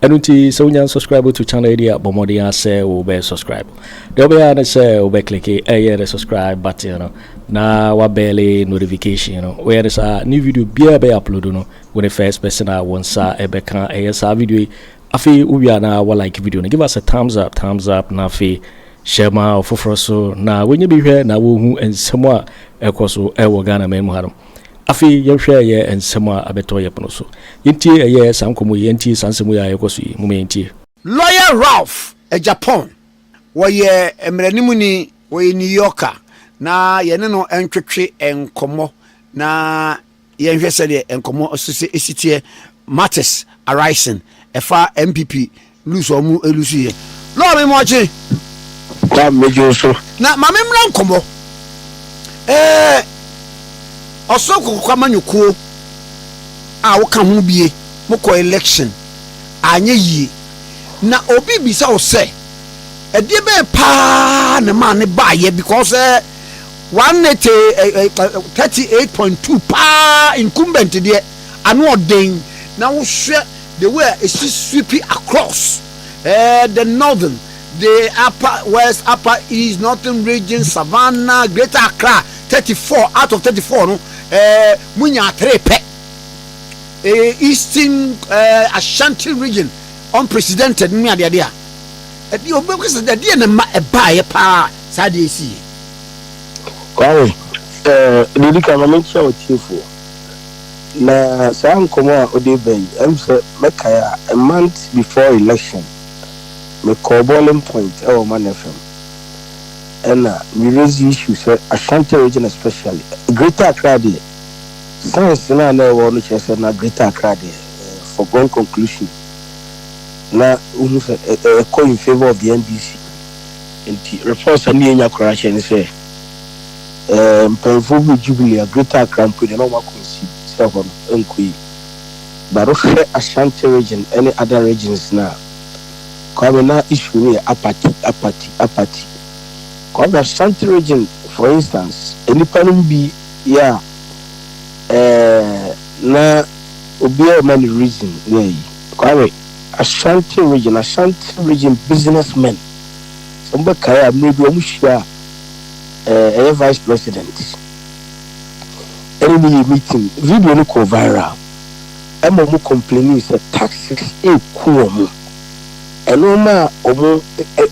Ɛno nti sɛ wonya nsubscribe to channel yi a bɔ mmɔden ara sɛ wobɛyɛ subscribe deɛ wobɛyɛ ara ne sɛ wobɛklike ɛyɛ ne subscribe button no na wabɛɛle notification no woyɛ ne saa ne video biara bɛyɛ upload no wo ne first person a wo nsa ɛbɛka ɛyɛ saa video yi afei wowie a na wa like video no give us a thumbs up thumbs up na afei hyɛ ma ɔfoforɔ so na wɔnyɛ bi hwɛ na wɔhu nsɛm a ɛkɔ so ɛwɔ Ghana man mu ha no Afei yɛnhwɛ ɛyɛ nsɛm a abɛtɔ yɛn pono so. Yɛntie ɛyɛ saa nkɔmmɔ yi, yɛntie saa nsɛm yi a ɛrekɔ so yi. Momma yɛntie. Lɔya Ralph Agyapong, Ɔyɛ mmaranimuni, ɔyɛ New Yorker, na yɛne no ntwetwe nkɔmmɔ na yɛnhwɛ sɛdeɛ nkɔmmɔ so sɛ ɛsi teɛ, matters arising, ɛfa NPP Lose a wɔn lose yɛ. Lɔɔ mi ma ɔkye. Kwa mi jo so. Na ma mi mmra nkɔmɔ. Ɛɛ ɔsoro kɔkɔkɔ amanyɔkuo a woka ho bie mo kɔ election anyɛ yie na obi bisa wo sɛ ɛdeɛ bɛyɛ paa na maa ne baayɛ because ɛɛ one nete thirty eight point two paa incumbent deɛ ano ɔden na wohwɛ. the way a esi sweepi across eh, the northern, the upper west, upper east, northern region, savannah, greater accra, thirty four out of thirty four no eh, mo nya atere pɛ eh, eastern eh, ashanti region unprecedented ne adeade a ɛde ɔbɛkɔ sɛ ɛdeɛ na ma ɛbaeɛ paa saa deɛ ɛsi yɛ. Kwame, eh, deɛ di kan ma menkyia wɔ tiefoɔ. Na saa nkɔmmɔ a ɔde reba yi, ɛyɛ me sɛ mɛkae a, a month before election, mekɔɔ boiling point wɔ Ɔman FM, ɛna me raise issue sɛ Ashanti region especially, Greater Accra deɛ, science no a na ɛwɔ hɔ no kyerɛ sɛ na Greater Accra deɛ, ɛyɛ foregone conclusion, na wohu sɛ ɛkɔ in favour of the NDC. Nti reports a na yɛnya koraa kyerɛ ne sɛ. Ɛɛ, mpanyimfo huu Jubilee a Greater Accra mpo deɛ na wɔn akɔ nsi sɛ hɔ no nkɔ yie. But wohwɛ Ashanti region ne other regions no a, Kwame na issue no yɛ apathy, apathy, apathy. Kwame Ashanti region for instance, nnipa no mu bi yɛ a, ɛɛ, na obiara rema no reason ne ayi. Kwame, Ashanti region, Ashanti region businessmen, sɛ mobɛkae a, mmerɛ bi wɔn hyia a, ɛyɛ vice president ɛne ne yɛ meeting video no kɔɔ viral ɛma ɔmo complaining sɛ taxes eku ɔmo ɛnoɔma a ɔmo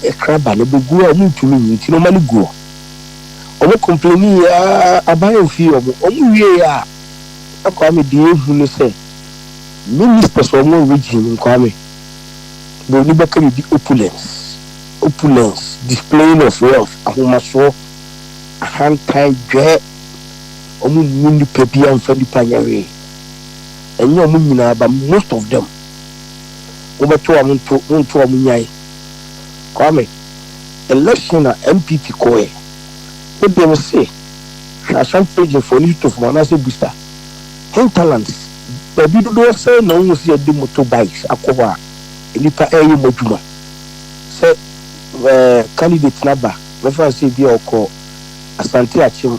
ɛkra ba no bɛgu a ɔmo ntumi nyi nti no ɔma no gu hɔ ɔmo complaining yɛ aban amfii ɔmo ɔmo wie a na Kwame deɛ ehu ne sɛ ministers ɔmo region no Kwame broni bɛka biribi opulence Opulence, Displaying of Wealth, Ahomasoɔ, Ahantan, Dwɛɛ, Wɔn mmu nipa biara mfa nipa nyɛ hwee, ɛnyɛ wɔn nyinaa but most of them, mobɛto a monto, monto a monyae. Kwame, Election a NPP kɔɔɛ, wo deɛ me se hwɛ Ashanti region foɔ no Yutof mu anaasɛ Busta, Hinterlands, baabi dodoɔ sɛn na wohu sɛ yɛde motor bikes akɔ hɔ a nnipa ɛɛyɛ wɔn adwuma? sɛ ɛɛ candidate no aba, mɛfa no sɛ ebi a ɔkɔ Asante Akyem,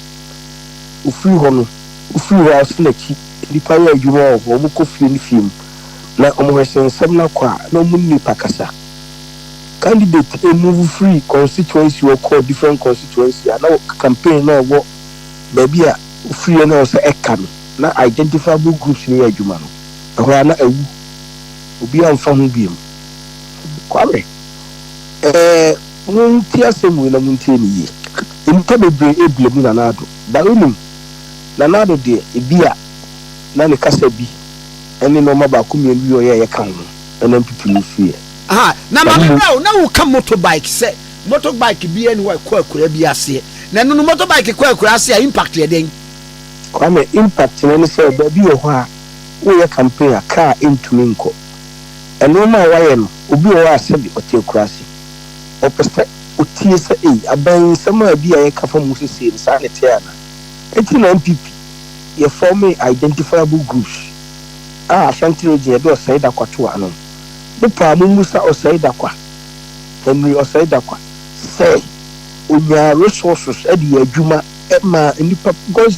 ofiri hɔ no, ofiri hɔ a ɔsen n'akyi, nnipa yɛ adwuma wɔ hɔ, wɔkɔ fie ne fie mu, na wɔhwɛ sɛ nsɛm no akɔ a, na wɔne nnipa kasa. Candidate ɛmove firi constituency hɔ kɔ different constituency a, na wɔ campaign no a ɛwɔ baabi a ofiriɛ no ɛwɔ sɛ ɛka no, na identifiable groups no yɛ adwuma no, ɛhɔ ara na awu, obiara mfa ho bio. Nokware. Ɛɛ, muntie asɛm wei na muntie no yie. Nnipa bebree rebla mu Nana Addo. But wonim, Nana Addo deɛ, ebia na ne kasa bi ne nnoɔma baako mmienu bi a ɔyɛeɛ ka ho na mpipi no firiiɛ. Aha, na maame berɛ o, na woka motorbike sɛ motorbike biara nni hɔ a ɛkɔ akuraa bi aseɛ. Na ɛno no, motorbike kɔ akuraa ase a, impact yɛ dɛn? Kwame, impact no ne sɛ, baabi wɔ hɔ a, woreyɛ campaign a, kaa ntumi nkɔ. Nnoɔma a wayɛ no obi wɔ hɔ a sɛbi ɔte akuraase ɔpɛ sɛ otie sɛ ei abɛn nsɛm a bi a yɛka fa mu sesei no saa na ɛteɛ anaa? Enti na NPP yɛ fɔmee identifiable groups a Ashanti region yɛde Ɔsɛe Dakwa to ano no. Mo paa mo mmisa Ɔsɛe Dakwa, Henry Ɔsɛe Dakwa sɛ onyaa resources de yɛ adwuma maa nnipa because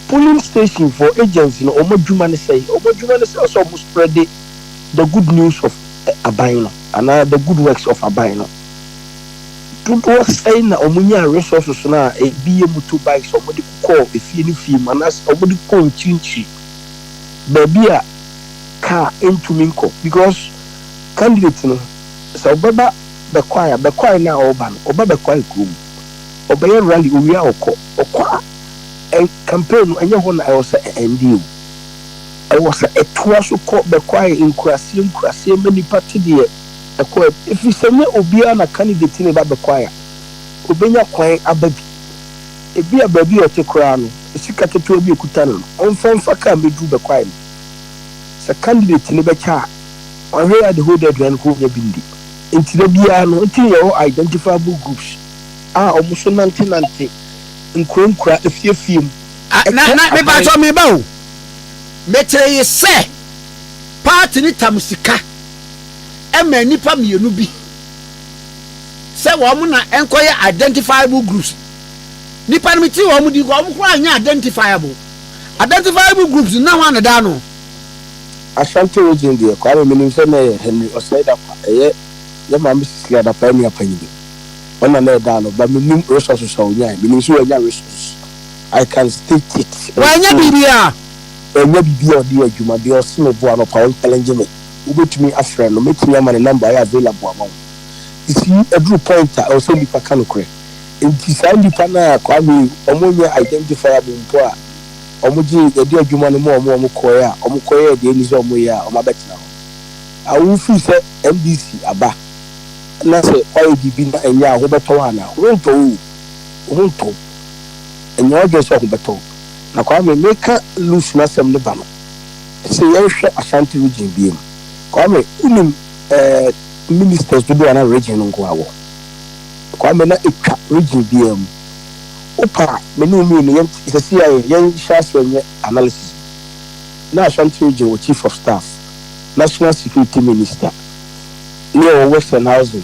Polling station for agents no wɔn adwuma ne sɛn? Wɔn adwuma ne sɛ ɔsɛ wɔn spreade the good news of aban no anaa the good works of aban no. Dodoɔ sɛn na wɔn nyaa resources no a ebi yɛ motor bikes a wɔn de kɔɔ efie ne fie mu anaa sɛ wɔn de kɔɔ nkyirikyiri baabi a car ntumi nkɔ because candidate no sɛ ɔbɛba bɛkwae a bɛkwae no a ɔreba no ɔba bɛkwae kuro mu ɔbɛyɛ rally ɔwie a ɔkɔ ɔkɔ a Campaign no ɛnyɛ hɔ na ɛwɔ sɛ ɛ end o. Ɛwɔ sɛ ɛtoa so kɔ bɛkwae nkuraseɛ nkuraseɛ ma nnipa te deɛ ɛkɔ a mu. Ɛfiri sɛ ɛnyɛ obiara na candidate no reba bɛkwae a ɔbɛnya kwan aba bi. Ebia baabi a ɔte koraa no sika ketewa bi a ɔkuta no no ɔmfa mfa kaa mmɛduru bɛkwae no. Sɛ candidate no bɛkyɛ a wahwɛ yɛ a the whole day aduane kora ɔnya bi ndi. Nti da biara no nti na yɛwɔ identifiable groups a wɔn nso nante nante. nkuro nkura afie fie mu. Na na me paatɔ me ba o me tere ye sɛ party no tam sika ma nnipa mmienu bi sɛ wɔn na nkɔ yɛ identifiable groups nnipa no me tiri wɔn din kɔ wɔn kura anyɛ identifiable identifiable groups no na wɔn na daa no. Ashanti region deɛ Kwame menim sɛ na ɛyɛ Henry Osei Dankwa ɛyɛ yɛ maame Cecilia Dankwa nua panyin. Ɔna na ɛdaa no but menim resources a ɔnyae menim sɛ wanya resources I can state it and say wanya biribiaa wanya biribiaa ɔde yɛ adwuma deɛ ɔse me boa no pa ɔnchalenge me wobɛtumi afrɛ no mɛtumi ama ne number ayɛ available ama wo you see ɛduru point a ɛwɔ sɛ nnipa ka nokorɛ nti saa nnipa no a Kwame wɔn nyɛ identifiable mpo a wɔn gye yɛde adwuma no ma wɔn wɔn kɔɛ a wɔn kɔyɛɛ deɛ ɛni sɛ wɔn yɛ a wɔn abɛtena hɔ a wo firi sɛ NDC aba na sɛ woayɛ biribi na ɛnyɛ a, ho bɛtɔ wo anaa? Worentɔ oo! Wo ho ntɔ wo. Nyɛ w'adwene sɛ wo ho bɛtɔ wo. Na Kwame, meka Lucy n'asɛm no ba no, ɛsɛ sɛ yɛnhwɛ Ashanti region biara mu. Kwame, wonim eh, ministers dodoɔ a na region no nko ara wɔ? Kwame, na ɛtwa region biara mu. Wopɛ a, me ne wo mmienu yɛnte, seesei ara yɛn, yɛnhyɛ aseɛ nyɛ analysis bi. Na Ashanti region wɔ chief of staff, national security minister. ne ɔwɔ Westernhausen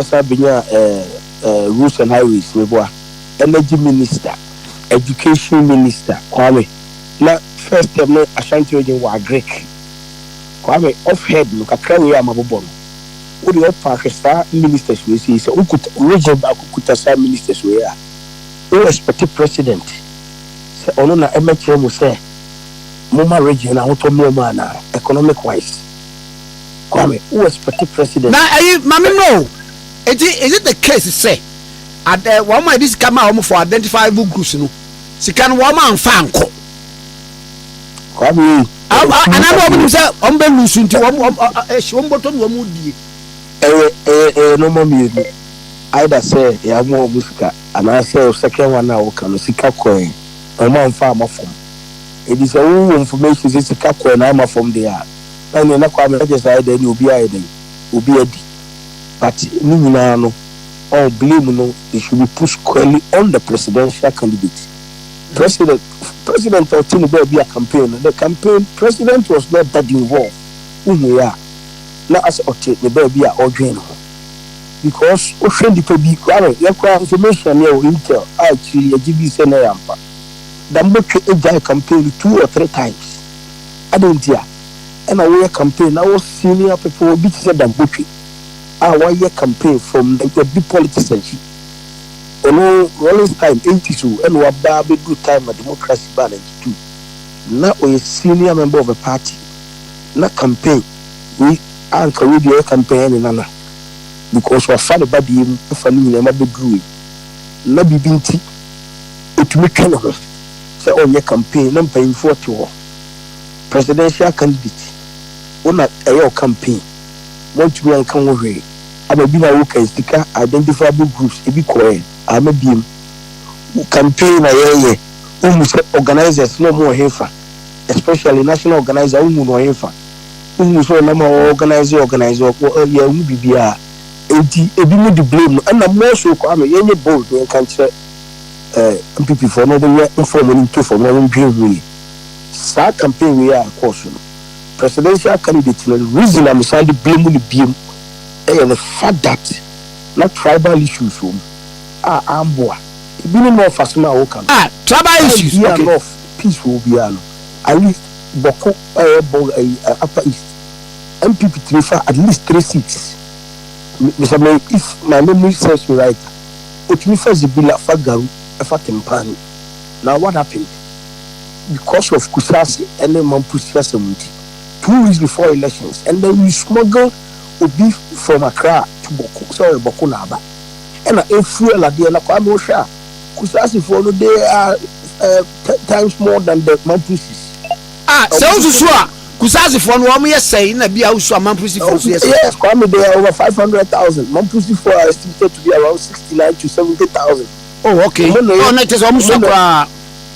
san benyaa Ruth and Iris meboa, Energy Minister, Education Minister, Kwame, na first term no Ashanti Region wɔ Agric. Kwame, off head no, kakra wei a mabobɔ no, wo deɛ ɔpa hwɛ saa ministers wei sei, sɛ wo kuta, region baako kuta saa ministers wei a, wo expect President sɛ ɔno na ɛmɛkyerɛ mo sɛ momma region no ahotɔ mmra mu anaa, economic wise. Kwame, wo expect president. Na ɛyi mame no o eti is it the case sɛ ad eh, wɔn a yɛde sika maa wɔn for identifiable groups no sika no wɔn anfa ankɔ? Kwame ei. Am- a- Anaa bɛ wɔn nim sɛ wɔn bɛ lusu nti wɔn wɔn ɔ- ɔ- ɛhyi wɔn bɔtɔ na wɔn die. Ɛyɛ ɛyɛ ɛyɛ nneɛma mmienu. Either sɛ yɛamoa wɔn sika anaasɛ wo second one a woka no sika kɔɛ na wɔn amfa ama fam. Enti sɛ wowɔ information sɛ sika kɔɛ na amma fam deɛ a, Ɛne na Kwame ɛgye saa ɛdɛn ne obi ayɛ dɛn obi adi but ne nyinaa no ɔn blame no they should be put squarely on the presidential candidate president president a ɔte ne baabi a campaign no the campaign president was not that involved wohui a na asɛ ɔte ne baabi a ɔdwen ne ho because wohwɛ nipa bi Kwame yɛ koraa information ne ɛwɔ intel a akyiri yɛgye dii sɛ na ɛyɛ ampa Dambotwe gyae campaign no two or three times. Adɛn ntia? Ɛna woyɛ campaign na wo senior people bi te sɛ Dangote a wayɛ campaign from the the big politician shi. Ɔno Rawlings time eighties o ɛna waba abɛduru time a democracy baa ninety two. Na ɔyɛ senior member of a party na campaign wei a nka wei deɛ ɔyɛ campaign ɛne Nana because wafa ne ba deɛ mu afa ne nyinaa mu abɛduru wei. Na biribi nti ɔtumi twe ne ho sɛ ɔnyɛ campaign na mpanyinfoɔ te hɔ. presidential candidate wo na ɛyɛ wo campaign moantumi anka ho hwee ama bi na wokan sika identifiable groups ebi kɔɛ ama biem wo campaign na yɛyɛ wohu sɛ organisers na ɔmo ɔhefa especially national organiser wohu no ɔhefa wohu sɛ ɔnam a organise organise ɔkɔ yɛhu bibiaa enti ebi mo de blame no ɛna mo so kɔ ama yɛnyɛ bold yɛnka nkyerɛ eh, NPP foɔ na wɔn nyɛ mfa wɔn ani nto fam na wɔn dwen ho yie. Saa campaign wei a ɛkɔɔ so no, presidential candidate no reason a me san de blame no biom yɛ the fact that na tribal issues wɔ mu a amboa ebinom na ɔfa asem a wo ka no. Ah, tribal issues, okay. Time bi a na ɔf peace wɔ hɔ biara no, at least Bɔko ɛyɛ Bɔ ɛyi eh, Upper East, NPP tumi fa at least three seats, me, me sɛ me if my memory serves me right a. Otumi fa zibila fa garu fa timpani na what happened because of kusase ne mampo siasɛm nti two weeks before elections and then you smuggled obi from Accra to Bawku sɛ ɔyɛ Bawku na aba ɛna ɛfuel adeɛ na Kwame wohwɛ a kusasefoɔ no they are ten times more than the mamposis. Ah sɛ wo susu a kusase foɔ no wɔn yɛ sɛn na bia wo susu a mamprisi foɔ nso yɛ sɛn. Yes Kwame they are over five hundred thousand mamprisi foɔ are estimated to be around sixty nine to seventy thousand. Oh ok oh na kyɛ sɛ wɔn sua koraa.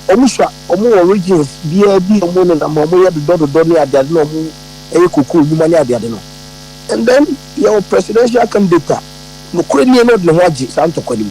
Wɔn sua wɔn wɔ regions biaa bi wɔn ne nam wɔn yɛ dodɔ dodɔ ne ade ade na wɔn yɛ cocoa nwuma ne ade ade no and then yɛ wɔ presidential candidate a nokorɛ nie na ɔde ne ho agye saa ntɔkwa no mu.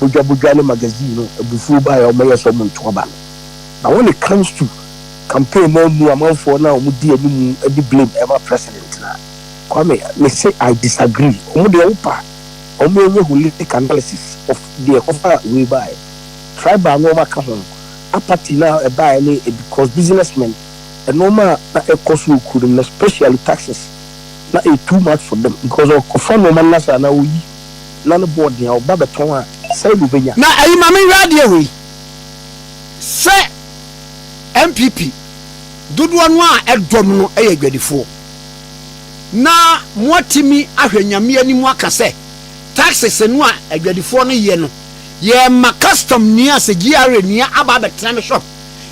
bodwabodwaa ne magazine no abufuo baeɛ a wɔyɛɛ sɛ wɔnto aba no. Na wɔne Comes To campaign no ammu amanfoɔ no a wɔdi animu de blame ɛma president no a. Kwame, me se I disagree. Wɔn deɛ wopa a wɔn ɛnyɛ holistic analysis of deɛ ɛkɔfa wei baeɛ. Tribal no wɔn aka ho, apathy no a ɛbaeɛ ne because businessmen nnoɔma a na ɛkɔ so wɔ kuro no mu no especially taxes na ɛyɛ too much for them because ɔkɔfa nnoɔma no na saa na ɔyi. na no bɔɔ nea ɔba bɛtɔn a sɛe na obenya. Na ɛyi ma menhwɛ adeɛ wei sɛ NPP dodoɔ no a ɛdɔm no yɛ adwadifoɔ na moatimi ahwɛ Nyame anim aka sɛ taxes no a adwadifoɔ no yɛ no yɛma custom ni a sɛ GRA ni a aba abɛtena me shop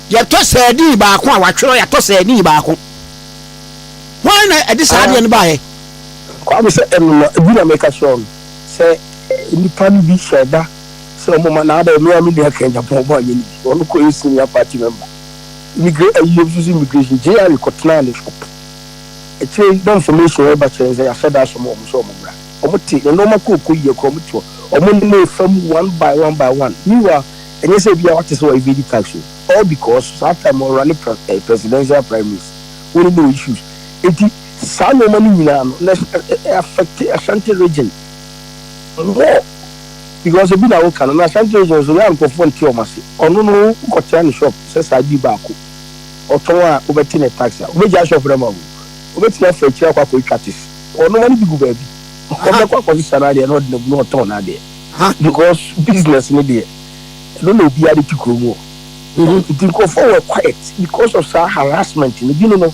yɛtɔ sardine baako a watwerɛ yɛatɔ sardine baako hwan na ɛde saa adeɛ no baeɛ? Kwame sɛ ɛno na ɛbi na meka kyerɛɛ no sɛ nnipa no bi hyɛɛ da sɛ wɔn ma naa dɛ me a me nua kɛn Japan wɔn anyɛ no bi ɔno kɔ yɛ senior party member immigra ayi yɛ nso so immigration JR kɔ tenaa ne shop akyire yi na information wɔ ba kyerɛ yɛn sɛ yɛahyɛ da asoma wɔn sɛ wɔn mmra wɔn te ne nnoɔma kɔ ɔkɔ yie kora wɔn te hɔ wɔn ne ne fa mu one by one by one meanwhile ɛnyɛ sɛ bia wate sɛ wɔ evade tax o all because saa time ɔrunne presidential primaries wɔn ne ne wɔ issues enti Saa nnoɔma no nyinaa no na ɛ affect Ashanti region more because ebi na woka no na Ashanti region nso na nkurɔfoɔ nte wɔn ase. Ɔno no wokɔtea ne shop sɛ saa ade yi baako ɔtɔn a wobɛte ne tax a wobɛgyaa shop no ama wo. Wobɛtumi afa akyire akɔ akɔtwa tes. Wɔn nnoɔma no bi gu baabi ɔbɛkɔ akɔsesa n'adeɛ na ɔde no agu na ɔtɔn n'adeɛ because business no deɛ ɛno na obiara de te kurom hɔ. Nti nkurɔfoɔ were quiet because of saa harassment no. Binom no.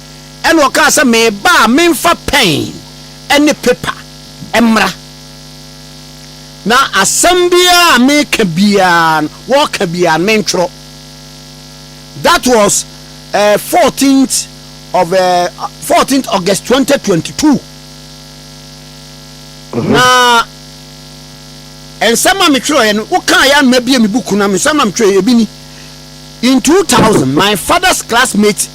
Ɛnna ɔkaa sɛ, Mereba a memfa pɛn ne pepa mmra, na asɛm biara a mereka biara no, wɔka biara no, mentwerɛ. That was uh, 14th of uh, 14th August 2022. Na nsɛm a metwerɛeɛ no, wokaa yɛ anoma bie me buku na nsɛm a metwerɛeɛ ebi ni. In 2000, my father's classmate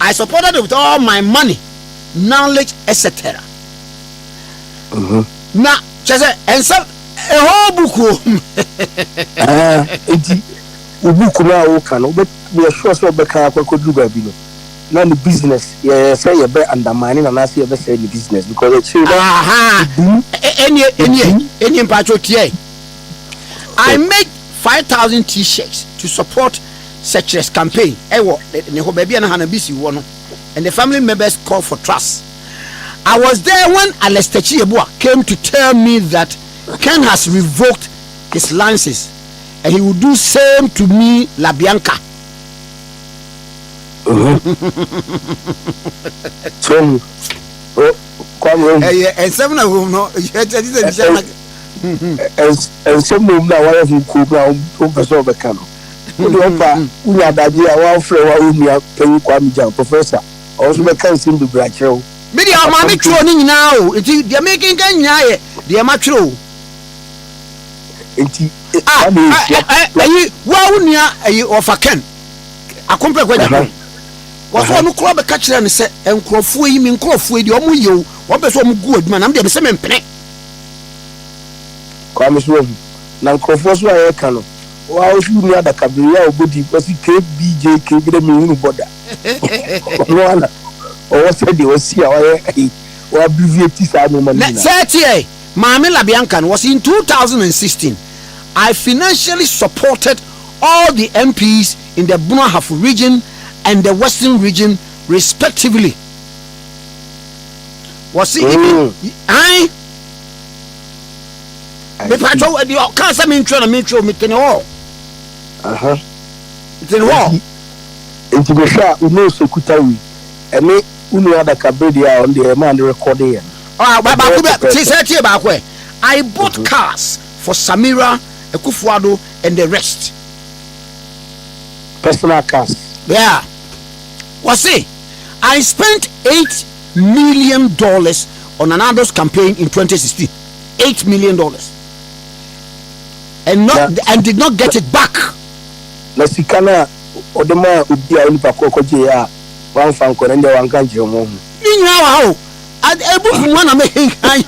I supported it with all my money, knowledge, etc. Mhm. Na kyerɛ sɛ ɛnsɛ a whole book o. Ah, enti wo book no a woka no wobɛ yɛ sure sɛ wobɛka akɔ akɔduru baabi no na ne business yɛyɛ sɛ yɛbɛ undermine no anaasɛ yɛbɛsɛe ne business because akyire no Aha. ɛbum Ɛ- Ɛnie ɛnie ɛbum ɛnie mpatsɔ tiɛ. I made five thousand t-shirts to support Searchless campaign ɛwɔ ne hɔ baabi a na Hannah Bissey wɔ no and the family members call for trust I was there when Alestachi Yeboah came to tell me that Ken has revoked his license and he will do same to me La Bianca. ɛyɛ nsɛm na wom no ɛkyɛ ti sɛ nhyɛ na nsɛm wom na wɔyɛ ho kuo na wɔmpɛ sɛ wɔbɛka no Wo deɛ ɔpa wo nya adaagye a wa wo frɛ wa wo nua panyin Kwame Gyang, Professor, ɔno nso bɛka nsem bebree akyerɛ wo. Me deɛ ɔmaa me twerɛɔ ne nyinaa o, nti deɛ mekenkan nyinaa yɛ deɛ ma twerɛ o. Nti ah, saa na ɛyɛ sua. Ah, ah, ayi, wa wo nua ayi ɔfa Ken, Akompɛ Kwagya Aha, Ken. Wɔsɛ aha. ɔno koraa bɛka kyerɛ no sɛ nkurɔfoɔ yi, me nkurɔfoɔ yi deɛ ɔmo yɛ o, ɔmo pɛ sɛ ɔmo gu adwuma na me deɛ mesɛ mempene. Kwame so wahu. Na nkurɔfoɔ so a yɛka no, Wo a ɔse wonni adaka bere yi a ɔbɔ din ɔse KBJ KB dɛ menhunu bɔ da ɔno ara na ɔwɔ sɛdeɛ wasi a wayɛ ayi wa abbreviate saa nnoɔma no nyinaa. Sɛ ɛteɛ, Maame LaBianca no wɔse in two thousand and sixteen I financially supported all the MPs in the Bono Ahafo region and the Western region respectively wɔse even ae. mepatwɛ wo deɛ ɔkaa sɛ mentwerɛ na mentwerɛ metene hɔ metene hɔ nti mehwɛ a wo nose okuta wei ɛne wo nua adakabere deɛ a ɔno deɛ ɛmaa ne rekɔde yɛ no baako bɛ te sɛ tie baako ɛ I bought mhm. cars for Samira Ekufuado and the rest personal cars yeah wɔse I spent eight million dollars on Nana Ado's campaign in 2016 eight million dollars and not na, and did not get it back. na sika no a ɔde maa obi a onipa koro kɔgyeeɛ a wamfa nkɔ no ɛndeɛ wanka nkyerɛ wɔn ho. ne nyinaa wɔ ha o Ad- ebu fi mu ana mekenkan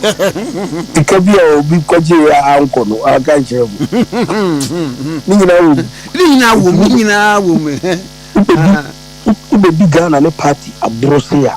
Sika bi a obi kɔgyeeɛ a ankɔ no wanka nkyerɛ wɔn ne nyinaa wɔ mu. ne nyinaa wɔ mu ne nyinaa wɔ mu Wobɛdi, Ah. wo- wobɛdi Ghana ne party aboro sei a.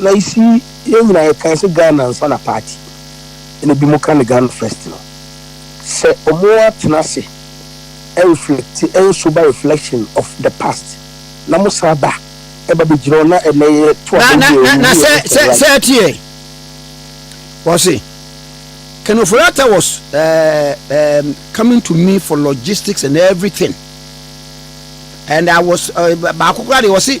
Na you see yɛn nyinaa yɛ kan sɛ Ghana ansa na party ɛna ebi mo ka no Ghana first no sɛ ɔmo atena ase ɛreflecte ɛyɛ sober reflection of the past na mo san ba ɛba bɛ gyina hɔ na ɛnɛ yɛ to Na, na, abɛwie na, na ɔmo sɛ, yɛ sɛ, sɛ right. ɛteɛ. Wɔse, Ken Ofori-Atta was uh, um, coming to me for logistics and everything. And I was, uh, baako koraa deɛ wɔse,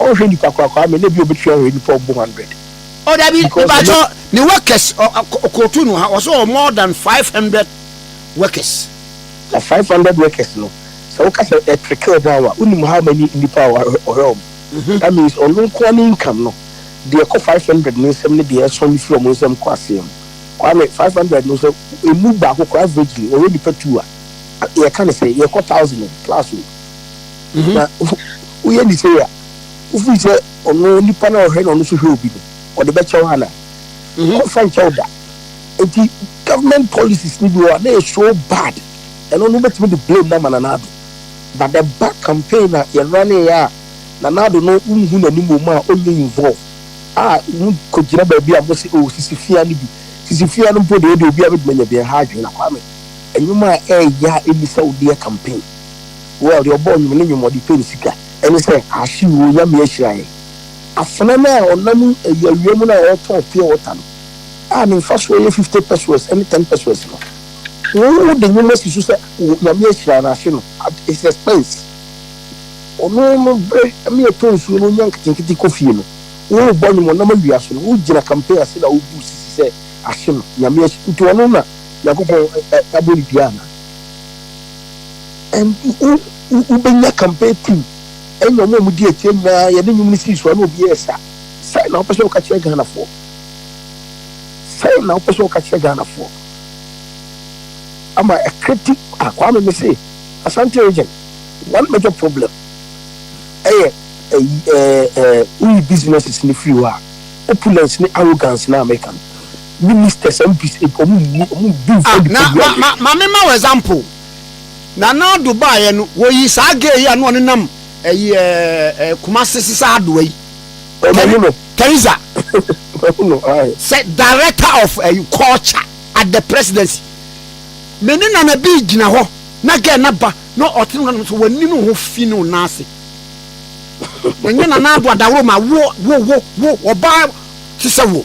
Ɔnhwɛ nipa korakoraa me na ebi obetumi ahwɛ nipa ɔbo hundred. Oh dabi mebaakyɛ ne workers ɔkootu no ha wɔsɛ ɔ more than five hundred workers. Na five hundred workers no sɛ woka sɛ ɛ trickle down a wonim how many nipa a ɔhwɛ wɔn that means ɔno nkoa ne income no deɛ ɛkɔ five hundred no nsam ne deɛ ɛsɔn firi wɔn nsam kɔ aseɛ no Kwame five hundred no sɛ emu baako koraa averagely ɔhwɛ nipa two a yɛka ne sɛ yɛkɔ thousand o plus o. mhm. na woyɛ ne sei a wofiri sɛ ɔno nipa no a ɔhwɛ na ɔno so hwɛ obi no ɔde bɛkyɛ wo ana mhm. ɔmfa nkyɛ wo da nti government policies no bi wɔ a na yɛ so bad ɛno no wobɛtumi de blame no ama nanaado but the ba campaign a yɛraneeɛ a nanaado no wonhu n'anim wɔ mu a ɔnyɛ involve a wokɔgyina baabi a mo se ɔwɔ oh, sisi fia no bi sisi fia no mpo deɛ ɛde obi a bɛtumi anya bi ɛha adwene na kwame ɛnwom a ɛyɛ a ɛni sɛ wodeɛ campaign Well, deɛ ɔbɔɔ nnwom ne nnwom ɔde pɛ ne sika. Ɛne sɛ, Aahye oo, Nyame ahyira yɛn. Afena no a ɔnam ayi awia mu no a ɔretɔn pure water no a ne mfasoɔ yɛ fifty pesewas ne ten pesewas no, wo wo de nnwom asi so sɛ wo Nyame ahyira no, ahye no, at his expense. Ɔno no bere me yɛtɔ nsuo no ɔnya nketenkete kɔ fie no, wo wo bɔ nnwom ɔnam awia so no, wo gyina campaign ase na wo bu sisi sɛ ahye no, Nyame ahyira, nti ɔno na Nyankopɔn abɔ ne dua anaa? And wo wo wobɛnya campaign team ɛnyɛ ɔmo a ɔmo di akyire nyinaa yɛde nnwom no sii so a na obiara ɛsa sɛn na wopɛ sɛ woka kyerɛ Ghanafoɔ sɛn na wopɛ sɛ woka kyerɛ Ghanafoɔ ama ɛkriti ah Kwame me se Asante region one major problem ɛyɛ ɛyi ɛɛ ɛɛ woyi businesses no firi hɔ a opulence ne arrogance na meka no Ministers and MPs mpo ɔmo nni ɔmo ndu nfa Ah, na nipadua ma, yɛ. ma, ma me ma wo example. Nana Addo baeɛ no, wɔyi saa gay yi a na ɔne nam ɛyi ɛɛ ɛɛ Kumasi sesa adoa yi. Ɔ Teri- mahu no. Teresa, Mahu no ae. sɛ director of ɛyi culture at the presidency. Me ne Nana Bii gyina hɔ na gɛ na ba na ɔte no nanom so w'ani no ho fi ne wo nan ase. Ɛnyɛ Nana Addo Adaworo ma wo, wo, wo, wo, ɔbaa te sɛ wo.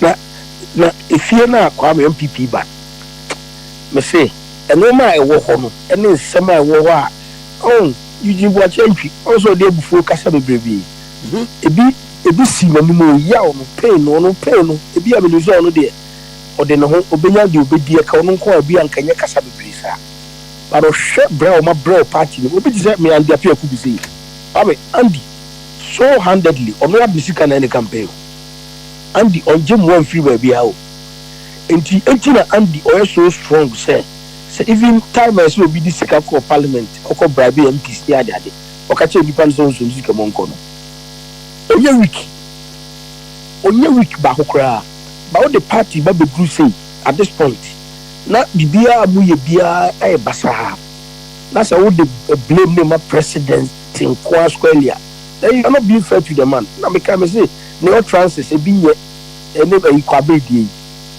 Na na efie no a Kwame NPP ba no, mese nnoɔma a ɛwɔ hɔ no ne nsɛm a ɛwɔ hɔ a oh Eugene Boakye Antwi ɔno nso ɔde abufuo kasa bebrebe ebi ebi si n'anim o yaw no pain no ɔno pain no ebi a menim sɛ ɔno deɛ ɔde ne ho ɔbɛnya deɛ ɔbɛdi ɛka ɔno nko a ebi a nka nyɛ kasa bebree saa but ɔhwɛ brɛ a wɔabrɛ wɔ party no obi te sɛ me Andy Apeaku bi sei Kwame Andy So handedly ɔno ara de sika na ɛyɛ ne campaign o. Andy ɔngye mmoa mfiri baabiara o. Nti enti na Andy ɔyɛ so strong sɛ sɛ even time a ɛsɛ obi de sika kɔ parliament ɔkɔ bribe MPs ne ade ade ɔka kyerɛ nnipa no sɛ ɔnsɔ ne sika mu ɔnkɔ no. Ɔnyɛ weak. Ɔnyɛ weak baako koraa. But wode party ba bɛduru sei at this point na biribiara a moyɛ biara ayɛ basaa na sɛ wode blame no ma president. te nkoaa squarely a then you are not being fair to the man na me kae me se ne utterances ebi nyɛ ɛne ɛyi Kwabere deɛ yi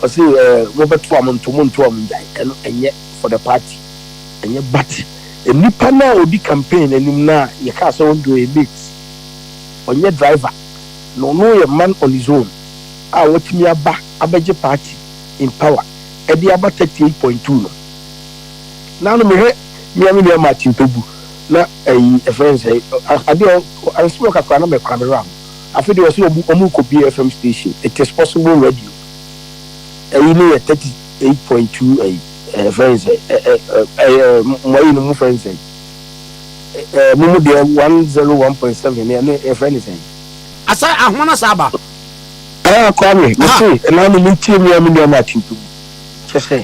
ɔse eh mo bɛ to a mo nto mo nto a mo ngyae ɛno ɛnyɛ for the party ɛnyɛ but nipa no a odi campaign no anim no a yɛ kaa sɛ ɔnde ɔyɛ mate ɔnyɛ driver na ɔno yɛ man on his own a watumi aba abɛgye party in power ɛde aba 38.2 no. Na no mehwɛ me a me nua Martin tɔ gu na ɛyi yɛfrɛ no sɛn adeɛ a ansem ɔka koraa na mɛ kora me wera ho afe deɛ ɔse ɔmu ɔmu kɔ bie FM station it is possible radio ɛyi ne yɛ 38.2 ɛyi ɛfrɛ no sɛn ɛ ɛ ɛ ɛ mo ayi no mo frɛ no sɛn ɛ ɛ mo mo deɛ 101.7 ne ɛne ɛfrɛ no sɛn Asɛ ahoma na saa ba. Ah Kwame, me se, ɛnaa no me ntie me a me nua Martin tɔ gu, kyɛ sɛ.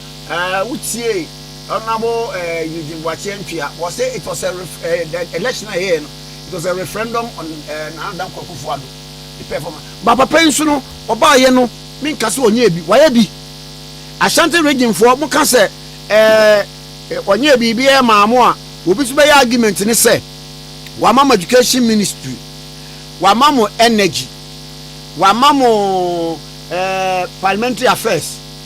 Eh, wo tie Honourable eh, Eugene Boakye Antwia, wɔ sɛ it was a ref, eh, the election a yɛyɛ no, it was a referendum on eh, Nana Dankwa Akufo-Addo, the performance. Ba papa yi nso no, ɔbaayɛ no, menka sɛ ɔnyɛ bi, wayɛ bi. Ashanti region foɔ, mo ka sɛ eh, eh, ɔnyɛ biribiara maa mo a, obi nso bɛyɛ argument ne sɛ, wama mo education ministry, wama mo energy, wama mo eh, parliamentary affairs,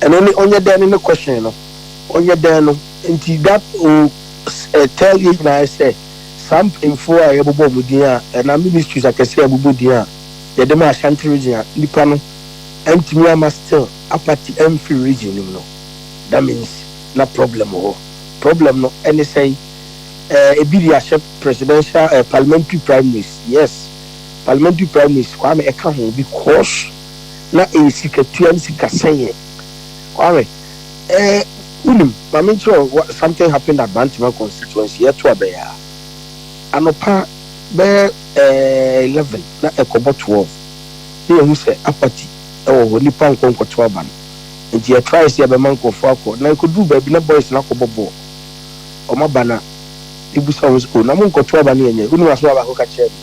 ɛno ne ɔnyɛ dɛn no ne question no, ɔnyɛ dɛn no, nti that will tell yɛn nyinaa sɛ saa mpanyinfoɔ a yɛbobɔ wɔn din a anaa ministries akɛseɛ a yɛbobɔ din a yɛde ma Ashanti region a nnipa no antumi ama still apate amfiri region no mu no that means na problem wɔ hɔ, problem no ɛne sɛn? Ɛɛ ebi de ahyɛ presidential ɛɛ parliamentary primaries, yes parliamentary primaries Kwame ɛka ho because. na ɛyɛ sikatua ne sikasɛeɛ. Wahwɛ ɛɛ wonim ma menkyerɛ wo wa something happened at Bantama constituency yɛto abɛn a anɔpa bɛyɛ ɛɛ eleven na ɛkɔbɔ twelve na yɛhu sɛ apathy ɛwɔ hɔ nnipa nkɔ nkɔto aba no nti yɛ try sɛ yɛbɛma nkurɔfoɔ akɔ na ɛkɔduru baabi na boys no akɔbɔ bɔɔl wɔn aba na mebusa wɔn sɛ oh na monkɔto aba no yɛnyɛ wonim asɛm a baako ka kyerɛɛ me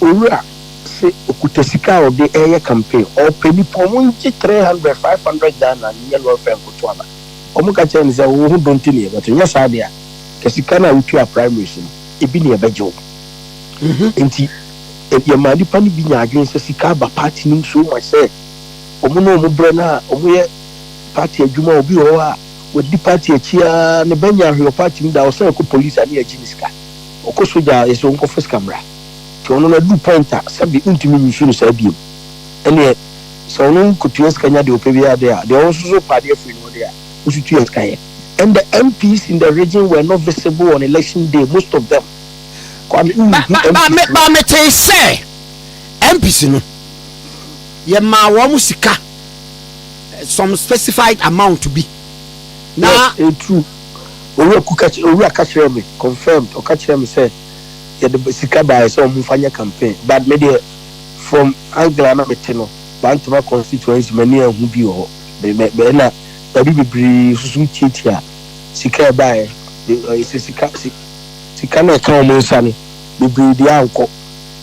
Owura se okuta sika a ɔde reyɛ campaign. Ɔpɛ nipa, ɔmo ngye three hundred, five hundred Ghana nyɛ lɔre fare nkoto ana? Ɔmo ka kyerɛ no sɛ wo ho dɔ nti na yɛbɛto, nyɛ saa de a nka sika no a wotuaa primaries no ebi na yɛbɛgye wo. Nti yɛmaa nipa no bi nyaa adwene sɛ sika aba party no mu so much sɛ ɔmo ne ɔmo brɛ no a ɔmo yɛ party adwuma, obi wɔ hɔ a wadi party akyi aa ne bɛ nyɛ ahwe wɔ party mu da, ɔsan kɔ police a ne yɛgye ne sika. Ɔkɔ sogya a, yɛse ɔnkɔfa sika mmra. Nti ɔno no aduru point a, sɛbe wontumi use no saa biom. Ɛneɛ, sɛ ɔno kɔtua sika nya deɛ ɔpɛ biara deɛ a, deɛ ɔno nso so kɔ adeɛ firi no hɔ deɛ a, wo nso tua sika yɛ. And the MPs in the region were not visible on election day, most of them. Kwame, wo nhu MPs no? Ba, ba, metee sɛ MPs no, yɛmaa wɔn sika, some specified amount bi, na. Yes, ɛyɛ true. Owura ku ka kyerɛ Owura ka kyerɛɛ me confirmed ɔka kyerɛɛ me sɛ yɛde ba sika baeɛ sɛ wɔn nfa nyɛ campaign but me deɛ from angle a na me te no Bantama constituency m'ani anhu bi wɔ hɔ me me me ɛna baabi bebree susu tiatia sika a ɛbaeɛ de ɔyɛ sɛ sika si sika no a ɛka wɔn nsa no bebree deɛ ankɔ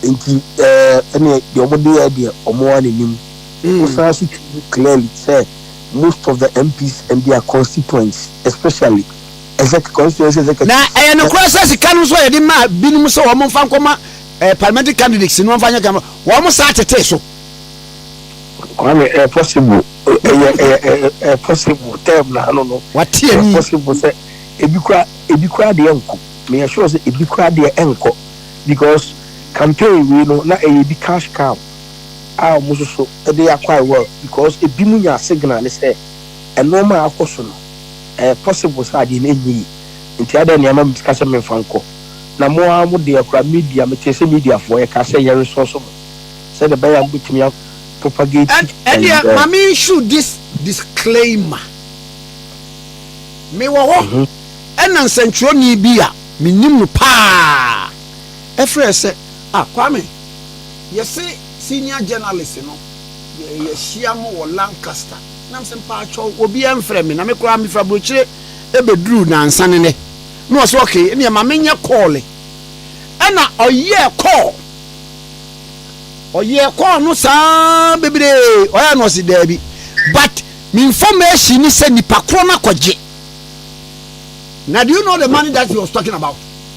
nti ɛɛ ɛneɛ deɛ wɔn de yɛ deɛ wɔn ara na ɛnim mm. wosan so tu clearly sɛ most of the MPs and their constituents especially exec constituency executives. Na ɛyɛ nokorɛ sɛ sika no nso a yɛde maa binom sɛ wɔn mfa nkɔma eh, parliamentary candidates no wɔn mfa nyɛ kan wɔn saa tetee so. Kwame, ɛyɛ eh, possible ɛyɛ eh, ɛyɛ eh, ɛyɛ possible term na ano no. Wate ɛyɛ ani. possible sɛ ebi kura ebi kura deɛ nko na yɛ sure sɛ ebi kura deɛ ɛnkɔ because campaign wei no na ɛyɛ bi cash cow a ɔmo soso de akɔ a well because ebi mo nya signal ne sɛ ɛnoɔma a akɔ so no ɛyɛ possible sɛ adeɛ no ɛnyɛ yie nti adɛn na ɛma me sika sɛ menfa nkɔ na mo ara mo deɛ koraa media metee sɛ media foɔ yɛ ka sɛ yɛ resource mo sɛdeɛ ɛbɛyɛ a mo bɛtumi a propagate ɛn ɛdeɛ ɛyi ma me issue this disclaimer me wɔ hɔ mhm ɛna nsɛntwerɛni bi a me nim no paa ɛfrɛ sɛ ah Kwame Yɛse senior journalist no yɛhyia mo wɔ Lancaster na mese mpaatwɔw obiara mfrɛ me na me koraa mefra brokyire ɛbɛduruu nansa ne nɛ na ɔse okay ɛneɛ ma menyɛ call ɛna ɔyɛɛ call ɔyɛɛ call no saa bebree ɔyɛɛ no ɔse daabi but me information ne sɛ nipa korɔ no akɔgye na do you know the money that he was talking about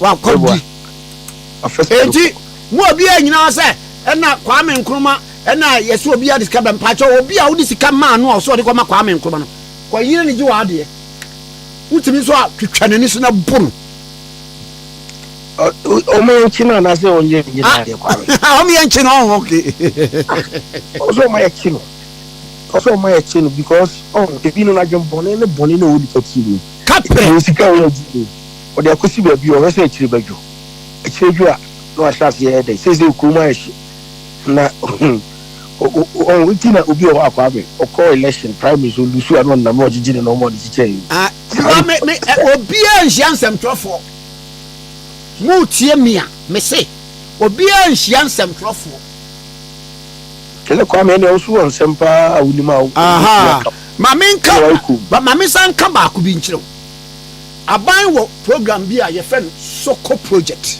wakɔdi eti mu obiara nyinaa sɛ ɛna Kwame Nkrumah ɛna yɛsɛ obiara de sika bɛn mpakyɛ obi a wode sika maa no a ɔsɛ ɔde kɔma Kwame Nkrumah no kɔyere ne gye wɔ adeɛ wotumi nso a twitwa n'ani so na bu no ọmọ yẹn kyi náà n'asẹ wọn yẹ ẹnjẹ náà yẹ kwame. ọmọ yẹn kyi náà ọhún ọkẹ. ọsọ ọmọ yẹn kyi no ọsọ ọmọ yẹn kyi no because ọhún ebi nínú adwene bọ̀nẹ́ ní bọ̀nẹ́ náà wọ́n di kẹ́kẹ́ mu. kápẹ́. èsì ká wọ́n di mu. Wɔde akosi baabi a wɔhwɛ sɛ akyire bɛdwo. Akyire dwo a, na wɔahyɛ aseɛ yɛ dɛ. Seesei kurom ayɛ hye. Na ɔn, nti na obi wɔ hɔ a, Kwame, ɔkɔ election, primary so, ɔlusu a, na ɔnam na ɔgyegye ne nɔɔma a ɔde kyekyɛɛ yi. Ah, Tiwa, me, me, ɛ, obiara nhyia nsɛmtwerɛfoɔ. Motie me a, mese, obiara nhyia nsɛmtwerɛfoɔ. Ɛnɛ, Kwame, ɛnneɛ wo nso wɔ nsɛm pa ara a wonim a wobɛtumi Ahaa, aka. ma menka, Ɛnna woayɛ komm. ma, ma mensan nka baako bi nkyerɛ wo. Aban wɔ program bi a yɛfrɛ no Soko project.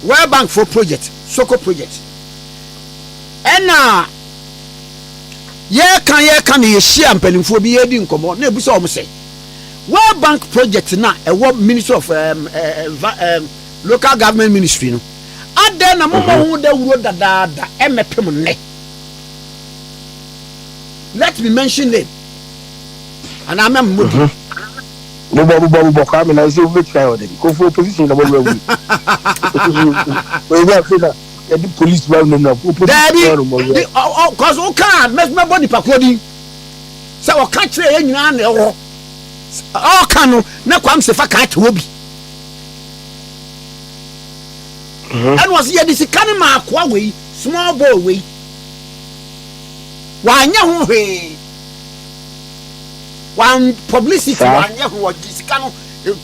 World Bank fo project, Soko project. Ɛna yɛka yɛka na yɛhyia mpanimfoɔ bi yɛredi nkɔmmɔ na ebusa wɔn sɛ World Bank project na ɛwɔ Ministry of um, uh, um, Local Government Ministry no adɛn na moma ho dawuro dadaada ɛmɛpem nnɛ let me mention name anaa mɛmmo di. Mhm. Bobɔ bobɔ bobɔ Kwame na ɛsɛ wobɛ try ɔdɛ bi kofo opposition kama wura wui. Ɛyɛ afei na yɛde police ba no na opposition Daabi kama no mɔ wura. de ɔkɔso wokaa mɛbɔ nipakuo din sɛ ɔka kyerɛ yɛ nyinaa na ɛwɔ ɔka no na kwam sɛ fa kaa kyewɔ bi Mhm. ɛna ɔsɛ yɛde sika no ma akoa wei small boy wei wanyɛ ho hwee wan publicity Saa. wanyɛ ho ɔgye sika no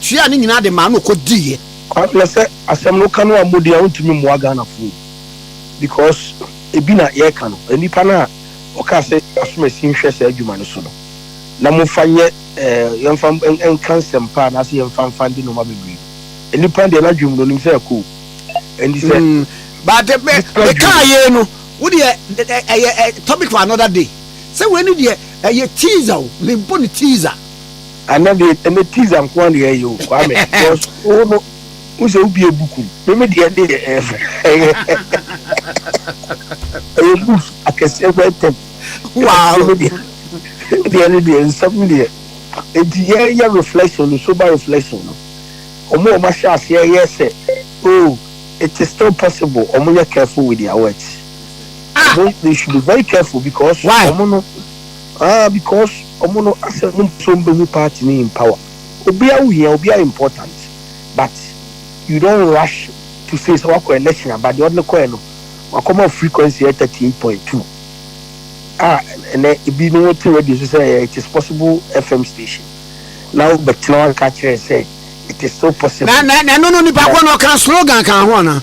tua ne nyinaa de maa no ɔkɔ diiɛ. Kwame na sɛ asɛm no woka no ammɔ din a wontumi mmoa Ghanafoɔ o because ebi na yɛreka no nnipa no a wɔkaa sɛ asomasi nhwɛ saa adwuma no so no na momfa nyɛ eh, yɛmfa nka nsɛmpa anaasɛ yɛmfa mfa ndi nnoɔma bebree no nnipa no deɛ n'adwene mu no ɔnim sɛ ɛkɔ o ɛnti sɛ Mm, but eh, me, Nipa me kaa adwene. yei no wodeɛ ɛ- ɛ- ɛyɛ ɛ- topic for another day sɛ wei no deɛ ɛyɛ teaser o mebɔ no teaser. Ana deɛ ɛnɛ teaser nko ara na yɛyɛ o Kwame because wo no wo sɛ wobie book mu meme deɛ ne yɛ ɛfɛ ɛyɛ ɛyɛ books akɛseɛ kɔ ntɛm wow meme deɛ deɛ ne deɛ nsɛm no deɛ enti yɛyɛ reflection no sober reflection no ɔmo ɔmo ahyɛ aseɛ yɛ sɛ oh it is still possible ɔmo nyɛ careful with their words. Ah. Ọmọ, they should be very careful because. Why? Ọmọ no, ah, because ọmọ no asẹ ọmọ mpẹ sẹ ọmọ bẹhu party ni in power. Obia wo hia, obia important, but you don't rush to say sẹ wakọ election aba deɛ ɔde no kɔɛ no wakɔma frequency yɛ thirty eight point two a ɛnɛ ebi no wote radio so sɛ it is possible FM station na wobɛtena wanka kyerɛ sɛ it is still possible. Na na na no no nipa kɔ na ɔka slogan kan ho ana.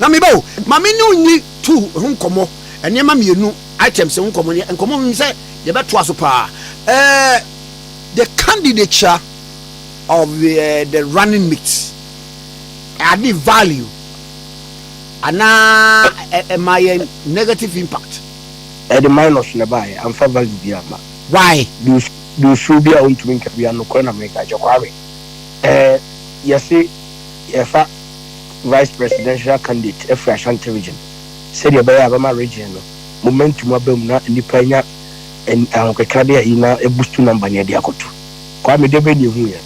Na me ba o, ma me ne wo nni tour ho nkɔmmɔ, nneɛma mmienu, items ho nkɔmmɔ, ne nkɔmmɔ menim sɛ yɛbɛtoa so paa. Eh, the candidature of the, eh, the running mate, ade value, anaa ɛma eh, yɛn negative impact. Ɛde minus na ɛbaeɛ, amfa value bi amma. Why? Duusuo bi a wontumi nka biara, nokorɛ na meka, Agya Kwame. Eh, yɛse yɛfa. Vice Presidential Candidate afiri Ashanti Region sɛdeɛ ɛbɛyɛ a ɛbɛma Region no momentum aba mu na nnipa anya ahokeka de ayi na abustu number no de akɔto Kwame deɛ bɛn na ɛhu yɛ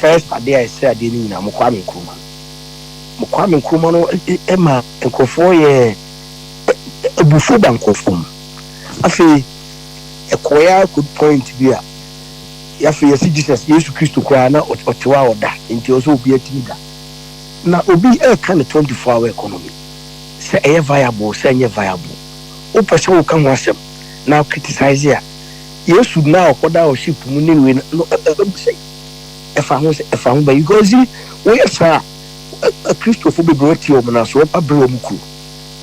first adeɛ a ɛsɛ adeɛ no nyinaa mo Kwame Nkrumah no mo Kwame Nkrumah no ɛma nkurɔfoɔ yɛ abufuo ba nkurɔfoɔ mu afei ɛkɔɛ a kɔdu point bi a yɛafei yɛsi Jesus Yesu Kristo koraa na ɔtewa a ɔda nti ɔsɛ obi atumi da Na obi reka ne twenty four hour economy sɛ ɛyɛ viable sɛ ɛnyɛ viable wopɛ sɛ woka ho asɛm na wo criticize a Yesu na ɔkɔ da wɔ ship mu ne wei no ɛbɛ mu sɛn ɛfa ho sɛ ɛfa ho bɛn because woyɛ saa a Kristofo bebree wɔte wɔn na so wɔpa bere wɔn kuro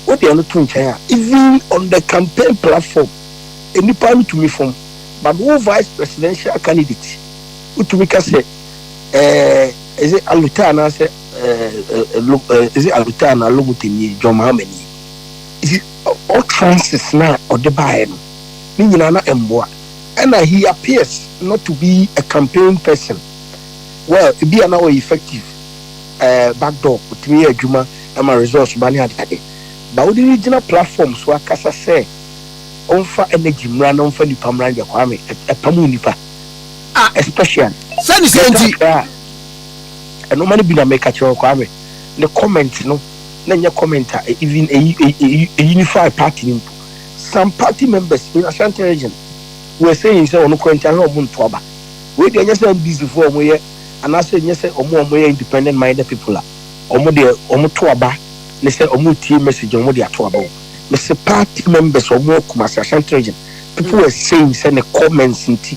wode ɛno to nkyɛn a even on the campaign platform nnipa no tumi fam but wo vice presidential candidate wotumi ka sɛ eh, is it aluta anaasɛ eh, eh, lo- eh, is it aluta anaa lomuta nie john mahama nie is it all trances na ɔde baeɛ no ne nyinaa na ɛmmoa ɛna he appears not to be a campaign person well ebi a na ɔyɛ effective eh, backdoor ɔtumi yɛ adwuma ɛma results ba ne adeade ba wode ne gyina platform so akasa sɛ ɔmfa energy mmra na ɔmfa nipa mmra ndeɛ kwame ɛ- ɛpam wo nipa ah especially sɛ ne sɛ nti ɛno ma no bi na meka kyerɛ ɔkɔ ame ne comment no na nyɛ comment a even a unify party no mpo some party members in Ashanti region were saying sɛ ɔno kora nti ahwɛ ɔmo nto aba wei deɛ nyɛ sɛ NDC foɔ ɔmo yɛ anaasɛ nyɛ sɛ ɔmo ɔmo yɛ independent minded people a ɔmo deɛ ɔmo to aba ne sɛ ɔmo tie message ɔmo de ato aba o mese party members ɔmo akuma sɛ Ashanti region people were saying sɛ ne comments nti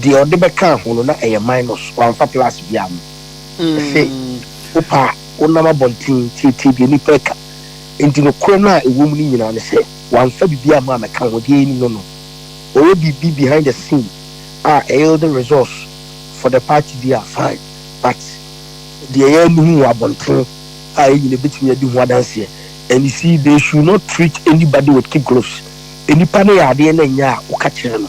Deɛ ɔde bɛkaa ho no na ɛyɛ minus, wamfa plus bi amu. Ɛse wopa a wonam abɔnten tietie deɛ nnipa ɛka. Enti nokorɛ no a ɛwɔ mu no nyinaa ne sɛ wamfa biribi amu amɛka ho, deɛ yɛnim no no. Ɔyɛ biribi behind the scene a ɛyield results for the party deɛ a fine, but deɛ yɛn ani hu wɔ abɔnten a yɛn nyinaa bɛtumi adi ho adanseɛ. And you see they should not treat anybody with kid gloves. Nnipa no yɛ adeɛ na ɛnyɛ a woka kyerɛ no.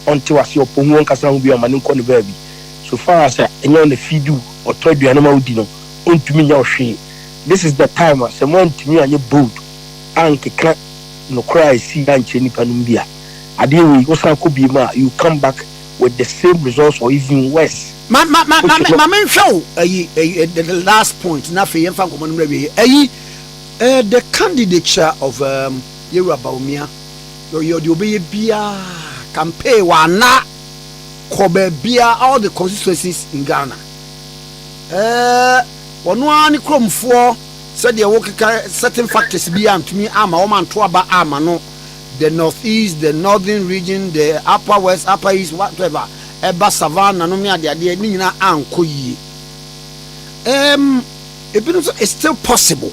ɔnntsew ase, ɔpɔ hu, ɔnnkasa ho bio ama no nnkɔ no baabi. So far as a nnyɛ wo na feed wo, ɔtɔ eduane ma wo di no, onntumi nnyɛ wo hwee. This is the time a sɛ moanntumi annyɛ bold annkeka nokwar a esii annkyerɛ nyimpa no mu bi a, adeyɛ wei wosan kɔ bio mu a, you come back with the same results or even worse. Ma, ma, ma, ma, ma menhwɛ wo ayi, ayi, eh, the, the last point, na afei yɛmfa nkɔmmɔ no mmra awieɛ. Ayi, eh, the candidature of um, Yewura Bawumia. Ɔyɛ deɛ ɔbɛyɛ biara campaign wanna kɔ baabiara all the constituencies in Ghana ɛɛ ɔno ara ne kuromfoɔ sɛdeɛ wokeka certain factors bi antumi ama wɔn anto aba ama no the north east the northern region the upper west upper east whatever ɛba savannah nom ne adeadeɛ ne nyinaa ankɔ yie ɛɛm ebinom nso it's still possible.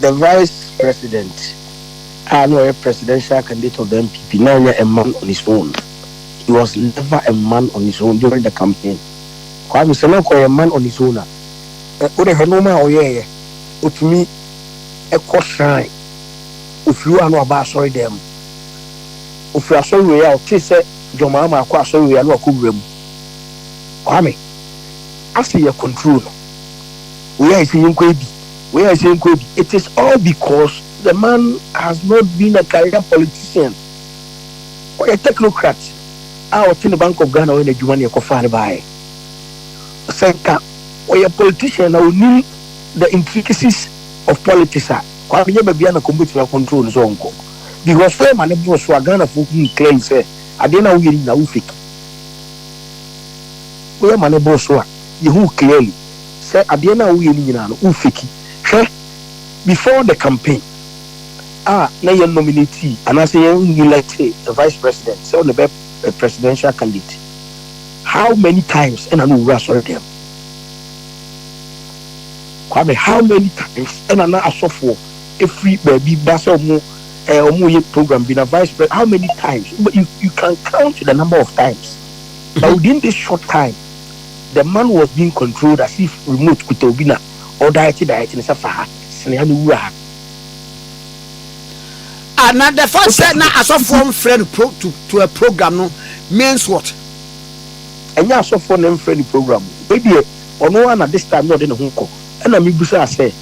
The Vice President a na ɔyɛ presidential candidate of the NPP na ɔnyɛ a man on his own, he was never a man on his own during the campaign. Kwame sɛ na anka ɔyɛ man on his own a, ɛ, wode hwɛ nnoɔma a ɔyɛeɛ, ɔtumi kɔ shrine, ɔfiri hɔ a na waba asɔre dan mu, ɔfiri asɔre wei a ɔtee sɛ John Mahama akɔ asɔre wei a na wakɔ wura mu. Kwame, ase yɛ control no. Wei ayɛ sɛ yɛnkɔ abi, wei ayɛ sɛ yɛnkɔ abi. It is all because the man has not been a career politician. Ɔyɛ technocrat a ɔte ne Bank of Ghana ɔyɛ n'adwuma na yɛkɔfaa no baeɛ. Sɛ nka ɔyɛ politician na ɔnim the intricacies of politics a, Kwame nyɛ baabi a na kɔm bɛtumi akɔntrol no sɛ ɔnkɔ. Because sɛ ɔma no boro so a, Ghanafoɔ hunu clearly sɛ adeɛ no a woyɛ no nyinaa wo fake. Woyɛ ma no boro so a, yɛhu clearly. Sɛ adeɛ no a woyɛ no nyinaa no wo fake hwɛ before the campaign a na yɛ nominatee anaasɛ yɛ electee the vice president sɛ ɔne bɛ bɛ presidential candidate how many times ɛna no owura asɔre dɛm Kwame how many times ɛna na asɔfoɔ ɛfiri baabi ba sɛ ɔmo eh, ɔmo yɛ program bi na vice president how many times you, you can count the number of times but within this short time The man was being controlled as if remote kuta obi na ɔdaɛkye daɛkye no sɛ fa ha, sene ha na wura ha. Ah, na the fact sɛ na asɔfoɔ mfrɛ no pro to to a program no means what? Ɛnyɛ asɔfoɔ na ɛmfrɛ no program o, wei deɛ ɔno ara na this time na ɔde ne ho rekɔ. Ɛna mebisaa sɛ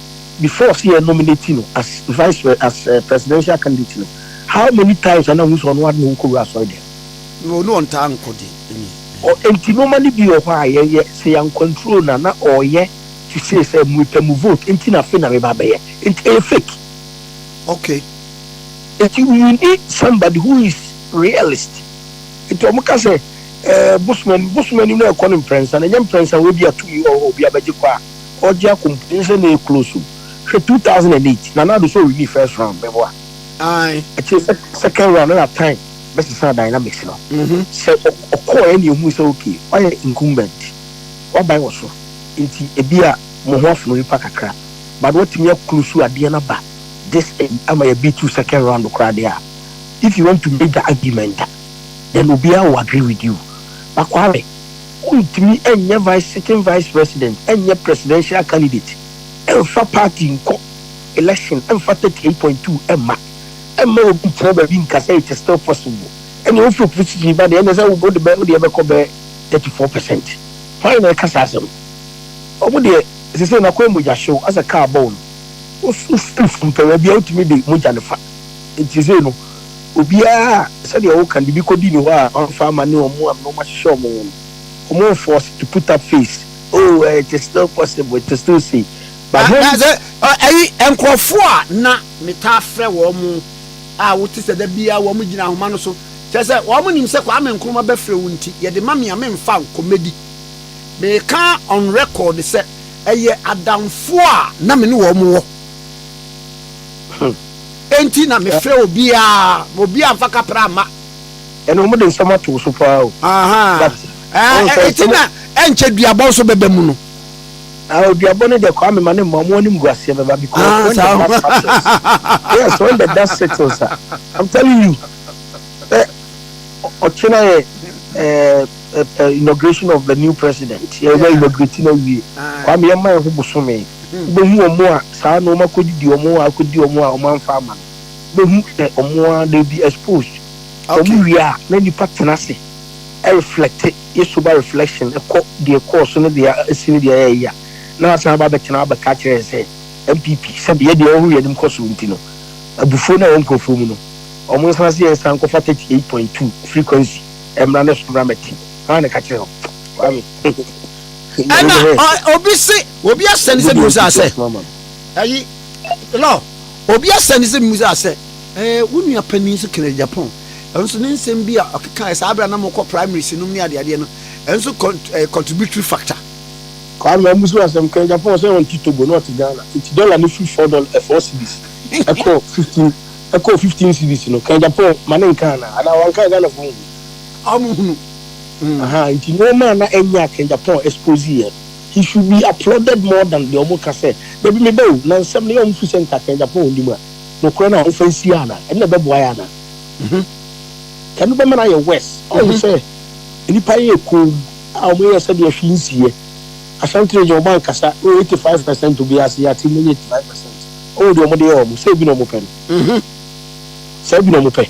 before sɛ yɛ nominate no as vice as presidential candidate no how many times a na wohu sɛ ɔno ara de ne ho kɔwura asɔredɛm? No, no ɔntaa nkɔ de, amen. Ɔ enti nnoɔma no bi wɔ hɔ a yɛ yɛ sɛ yɛ nkwanturo na na ɔ yɛ te see sɛ mo pɛ mo vote enti na afei na me ba bɛyɛ enti ɛyɛ fake. Okay. Enti you need somebody who is realist enti ɔmo ka sɛ ɛɛ bosom anim bosom anim na ɛkɔ no mprɛnsa na ɛnyɛ mprɛnsa wɔ ebia tumi ɔ hɔ obi abɛgye kɔ a ɔgye akɔ mpo ɛnyɛ sɛ na ɛclose o hwɛ two thousand and eight Nana Addo sɛ ɔ winii first round mɛboa Ae. akyire sɛ second round ɛna time. bɛsesa dynamics no sɛ ɔkɔɔɛ na ehu sɛ okay wayɛ incumbent waban wɔ so nti ebi a mo ho afono nipa kakra but watumi aklusu adeɛ no aba this ayi ama yɛ be to second round koraa deɛ a if you want to make the argument a then obiara will agree with you but kwame wontumi ɛnyɛ vice sitting vice president ɛnyɛ presidential candidate ɛmfa party nkɔ election ɛmfa 38.2 ɛmma Mma obi nntena baabi nnka sɛ it is still possible. Ɛnneɛ wo firi PCG ba deɛ, ɛnneɛ sɛ wo de bɛ, wo deɛ bɛkɔ bɛyɛ thirty four percent. Hwan na ɛka saa asɛm? Wɔn deɛ sesei no akɔ yɛ mogyahyew asɛ car bɔɔ no. Wo so firi fam pɛ, baabi a wotumi de mogya no fa. Nti sesei no obiara a sɛdeɛ wo ka no biribi kɔdi ne hɔ a wɔamfa amma ne wɔn a na wɔahyehyɛ wɔn ho no, wɔn nfɔɔse to put up face, oh it is still possible, it is still sei. But hom. Na dze ayi nkorɔfo a nna metaa frɛ hɔn a wɔtse sɛ da biara hɔn gyina ahoma no so, kyerɛ sɛ hɔn nyim sɛ Kwame Nkrumah bɛfrɛ wo ntsi, yɛdze ma me a memmfa nkɔmmɛdzi. Merekã on record sɛ ɛyɛ adamfo a na me nye hɔn wɔ ntsi na mefrɛ obiara ma obiara amfa kapra amma. Ɛnna wɔde nsɛm ato wo so paa o. Aha. But, Ɛɛ, ɔnhwɛ ntsi na ɛnkyɛ duabɔ nso bɛba mu no. Ah, oduabɔ no deɛ Kwame ma ne mma ɔmo animguaseɛ bɛba because Ah, when the saa blood passes, yes, when the dust settles a, I'm telling you, sɛ ɔ- ɔkye na yɛ eh, eh, eh, inauguration of the new president, yɛbɛ Yeah. inaugurate no awie, Ah. Kwame yɛma yɛ ho bosome, wobɛhu ɔmo a saa na ɔmo akɔdidi ɔmo a akɔdi ɔmo a ɔmo amfa ama no, wobɛhu sɛ ɔmo a they be exposed, sɛ ɔmo Okay. wie a na nipa tena ase ɛreflecte yɛ sober reflection kɔ deɛ ɛkɔɔ so ne deɛ asi ne deɛ ɛɛyɛ a, na wasan aba abɛtena abɛka akyerɛ yɛn sɛ NPP sɛbi yɛdeɛ yɛhu yɛn anim kɔ soro nti no, abufuo no a ɛwɔ nkorɔfoɔ mu no, wɔn nsana sɛ yɛn san nkɔfa 38.2 frequency mmra ne so mmra mmɛte. Hwan na ɛka kyerɛ wo? Kwame. Ɛna obi se, obi asɛne sɛ bimu saa sɛ, ɛyi, Law, obi asɛne sɛ bimu saa sɛ, ɛɛ, wo nua panin nso kena Japan. Ɛnso ne nsɛm bi a ɔkekaɛ saa berɛ a na mokɔ primary si nom ne adeadeɛ no, ɛnso cont ɛyɛ contributory factor. Kwame Amusu asɛm kɛn Japan sɛ ɔnte Togo na ɔte Ghana nti dollar no firi four dol ɛ four cedis ɛkɔ fifteen ɛkɔɔ fifteen cedis no kɛn Japan ma ne nka anaa? Anaa wanka a Ghanafoɔ nhunu? Ɔmo hunu. Mm. Ahaa nti nnoɔma a na ɛnyɛ a kɛn Japan expose yɛ no he should be applauded more than deɛ ɔmo ka sɛ dabi meba o na nsɛm no yɛ ɔmo firi sɛ nka kɛn Japan nnim a. nokorɛ no a wofa nsi yɛ anaa? Ɛno na ɛbɛboa yɛ anaa? Mmhmm. Ɛno bɛma no ayɛ worse. Ɔhu sɛ nnipa yɛ komm a wɔyɛ sɛdeɛ hwee nsiiɛ. Ashanti region wɔn ankasa wɔ 85 percent obiara se yɛate mmɔ yi 85 percent. Wohu deɛ wɔde yɛ wɔn? Sɛ bi na wɔpɛ no. Mmhmm. Saa bi na wɔpɛ.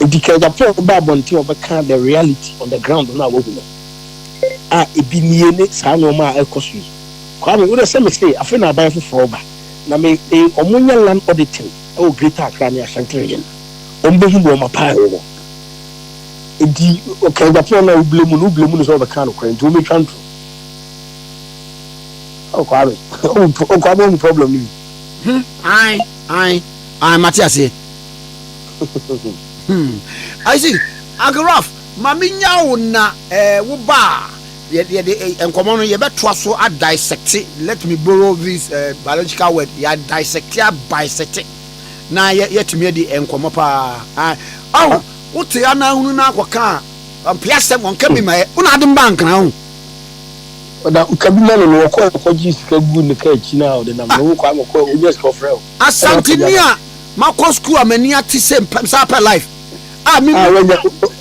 Enti ka Japan no ba abɔnten a wɔbɛka the reality on the ground no a wɔahu no. A ebi nie ne saa nnoɔma a ɛrekɔ so yi. Kwame, wo deɛ sɛ me se afei na aban foforɔ reba. na me e ɔmo nyɛ land auditing ɛwɔ greater Accra ne Ashanti region ɔmo bɛ hu bɔɔma paa ɛwɔ hɔ enti ɔka Agyapong no a wo blame no wo blame no sɛ ɔbɛka no korɛ nti ɔmo atwa nto ɔkwa me ɔkwa me ɔmo problem no bi hmm ae ae ae mate aseɛ hmm I see Uncle Ralph ma me nyawo na eh, wo baa Yɛde nkɔmmɔ no yɛbɛtoa so a dissecte, let me borrow this biological word, yɛ dissecte a bisecte na yɛatumi adi nkɔmmɔ paa. Ɔho, wote ananhunu no akɔka a, ɔmpe asɛm, ɔnka bi ma yɛ, wona ade mba nkra ho. Ɔda woka bi ma no no, ɔkɔ ɔkɔgye sika gu ne ka akyi na ɔde nam, na wo kɔ akɔkɔ onya sika ɔfrɛ wo. Asanteni a makɔ school a m'ani ate sɛ mpɛ saa pɛ life a me.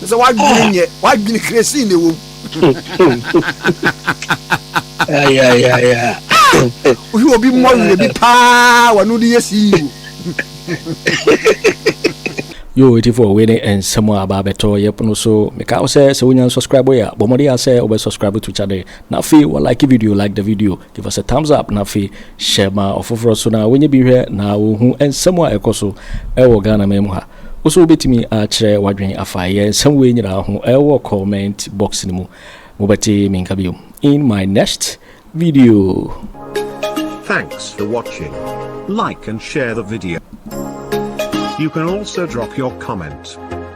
Te sɛ wadwene nyɛ wadwene kresin na ɛwɔ mu. Wohwɛ obi mmɔ werɛ bi paa wɔne wode yɛ CEO. Yo etifoɔ wei ne nsɛm a aba abɛtɔ yɛ pono so meka wo sɛ sɛ wonya nsubscribe yɛ a bɔ mmɔden a sɛ wobɛ subscribe to channel na afei wa like video like the video. Give us a thumbs up na afei hyɛ ma ɔfoforɔ nso na wɔnyɛ bi nhwɛ na wɔhu nsɛm a ɛkɔ so wɔ Ghana man mu ha. Wo nso wobɛtumi akyerɛ w'adwene afa yɛn nsɛm wei nyinaa ho wɔ comment box no mu. Mobɛte me nka bio in my next video. Thanks for watching. Like and share the video. You can also drop your comment.